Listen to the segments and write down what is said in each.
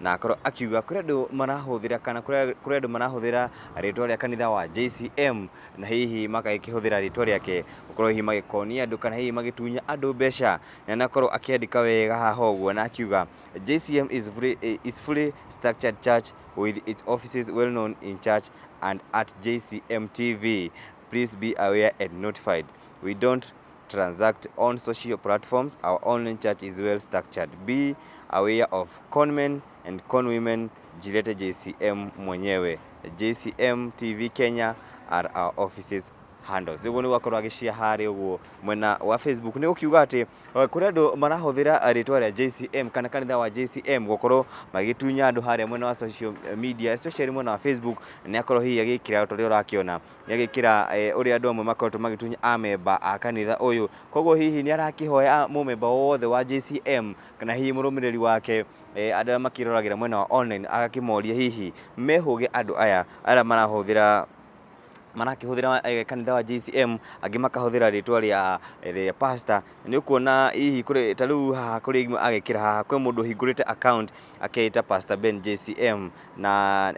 na akorwo akiuga kũrĩ andũ marahũthĩra kana kũrĩ kũrĩ andũ marahũthĩra rĩtwa rĩa kanitha wa JCM na hihi magakĩhũthĩra rĩtwa rĩake gũkorwo hihi magĩkonia andũ kana hihi magĩtunya andũ mbeca na nakorwo akĩandĩka wega haha ũguo na akiuga JCM is fully, eh, is fully structured church with its offices well known in church and at JCM TV please be aware and notified we don't transact on social platforms, our online church is well structured. Be aware of conmen and conwomen jilete JCM mwenyewe. JCM TV Kenya are our offices handles niguo nigugakorwo agĩcia harĩ ũguo mwena wa facebook nĩ gũkiuga atĩ eh, kũrĩ andũ marahũthĩra rĩtwa rĩa jcm kana kanitha wa jcm gũkorwo magĩtunya andũ harĩa mwena wa social media especially mwena wa facebook nĩ akorwo hihi agĩkĩra ta ũrĩa ũrakĩona Nĩ agĩkĩra ũrĩa andũ amwe makoretwo magĩtunya amemba a kanitha ũyũ. Koguo hihi nĩ arakĩhoya mũmemba o wothe wa JCM kana hihi mũrũmĩrĩri wake, andũ arĩa makĩroragĩra mwena wa online, agakĩmoria hihi mehũge andũ aya arĩa marahũthĩra marakĩhũthĩra kanitha wa JCM, angĩ makahũthĩra rĩtwa rĩa rĩa pastor. Nĩ ũkuona hihi kũrĩ ta rĩu haha kũrĩ agĩkĩra haha kwĩ mũndũ ũhingũrĩte account. akeeta pastor Ben JCM na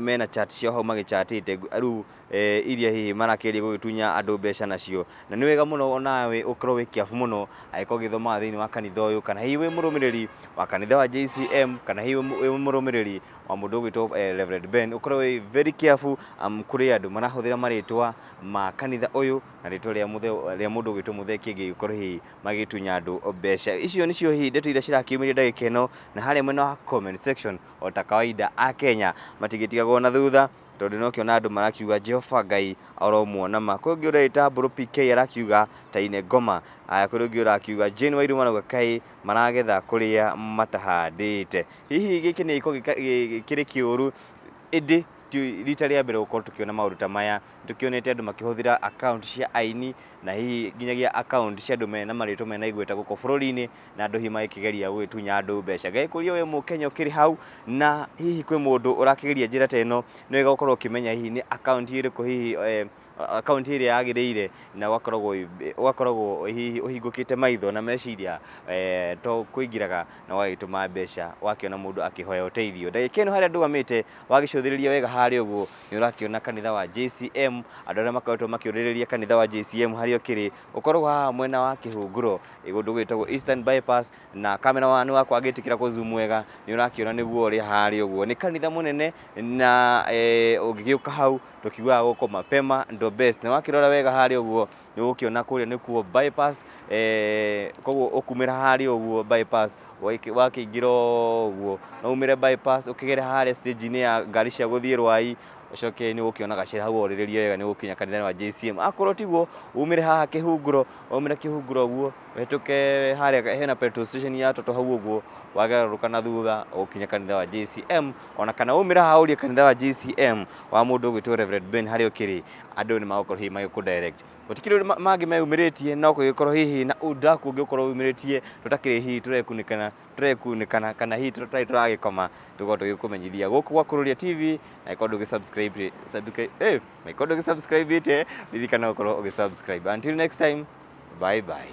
mena chat ciao hau magĩchatĩte rĩu eh, iria hihi marakĩria gũgĩtunya andũ mbeca nacio na nĩ wega mũno onawe ũkorwo wĩ kĩabu mũno agĩkorwo ũgĩthomaga thĩinĩ wa kanitha ũyũ kana hihi wĩ mũrũmĩrĩri wa kanitha wa JCM kana hihi wĩ mũrũmĩrĩri wa mũndũ ũgwĩtwo eh, Reverend Ben ũkorwo wĩ very careful um, kũrĩ andũ marahũthĩra marĩtwa ma kanitha ũyũ na rĩtwa rĩa mũndũ ũgwĩtwo mũthee kĩngĩ gĩkorwo hihi magĩtunya andũ mbeca. Icio nĩcio hihi ndeto iria cirakiumĩria ndagĩka ĩno, na harĩa mwena wa comment section o ta kawaida a Kenya matingĩtigagwo na thutha tondũ nĩ ũkĩona andũ marakiuga Jehova Ngai aromuona ma. Kwĩ ũngĩ ũreĩta Mbũrũ PK arakiuga ta ine ngoma, aya kwĩ ũngĩ ũrakiuga Jane Wairũ marauga kaĩ maragetha kũrĩa matahandĩte. Hihi gĩkĩ nĩ gĩko gĩkĩrĩ kĩũru, ĩndĩ ti rita rĩa mbere gũkorwo tũkĩona maũndũ ta maya. Nĩtũkĩonete andũ makĩhũthĩra account cia aini na hihi nginyagia account cia andũ mena marĩtwa mena igweta gũkũ bũrũri-inĩ na andũ hihi magĩkĩgeria gũgĩtunya andũ mbeca. Ngagĩkũria wĩ mũkenya ũkĩrĩ hau na hihi kwĩ mũndũ ũrakĩgeria njĩra ta ĩno, nĩ wega gũkorwo ũkĩmenya hihi nĩ account ĩrĩkũ hihi account ĩrĩa yagĩrĩire na ũgakoragwo ũgakoragwo hihi ũhingũkĩte maitho na meciria to kũingĩraga na ũgagĩtũma mbeca wakĩona mũndũ akĩhoya ũteithio. Ndagĩka ĩno harĩa ndũgamĩte wagĩcũthĩrĩria wega harĩa ũguo nĩ ũrakĩona kanitha wa JCM, andũ arĩa makoretwo makĩũrĩrĩria kanitha wa JCM harĩa ũkĩrĩ, ũkoragwo haha mwena wa kĩhunguro, kũndũ gwĩtagwo Eastern Bypass, na camera man wakwa agĩtĩkĩra kũ zoom wega, nĩ ũrakĩona nĩguo ũrĩa harĩa ũguo. Nĩ kanitha mũnene, na ũngĩgĩũka hau, tũkiugaga gũkũ mapema ndo best. Na wakĩrora wega harĩa ũguo, nĩ ũgũkĩona kũrĩa nĩkuo bypass eh, koguo ũkumĩra harĩa ũguo bypass waiki- wakĩingĩra ũguo no umĩre bypass ũkĩgere harĩa stage-inĩ ya ngari cia gũthiĩ rwai ũcoke nĩ ũgũkĩona gacĩra hau orĩrĩria wega nĩ ũgũkinya kanitha wa JCM akorwo tiguo umĩre haha kĩhunguro umĩre kĩhunguro ũguo ũhĩtũke harĩa hena petrol station ya toto hau ũguo wagarũrũka na thutha ũgũkinya kanitha wa JCM ona kana umĩra haha ũrie kanitha wa JCM wa mũndũ ũgwĩtwo Reverend Ben harĩa ũkĩrĩ andũ nĩ magũkorwo hihi magĩkũ direct gũtikĩrĩ ũndũ ma- mangĩ meyumĩrĩtie no kũgĩkorwo hihi na ũndũ kũngĩ ũkorwo wumĩrĩtie tũtakĩrĩ hihi tũrekunĩkana tũrekunĩkana kana hihi tũtarĩ tũragĩkoma tũkorwo tũgĩkũmenyithia gũkũ gwa Kururia TV na ĩkorwo ndũgĩ subscribe rĩ- subscribe eh, na ĩkorwo ndũgĩ subscribe ĩte ririkana gũkorwo ũgĩ subscribe until next time bye bye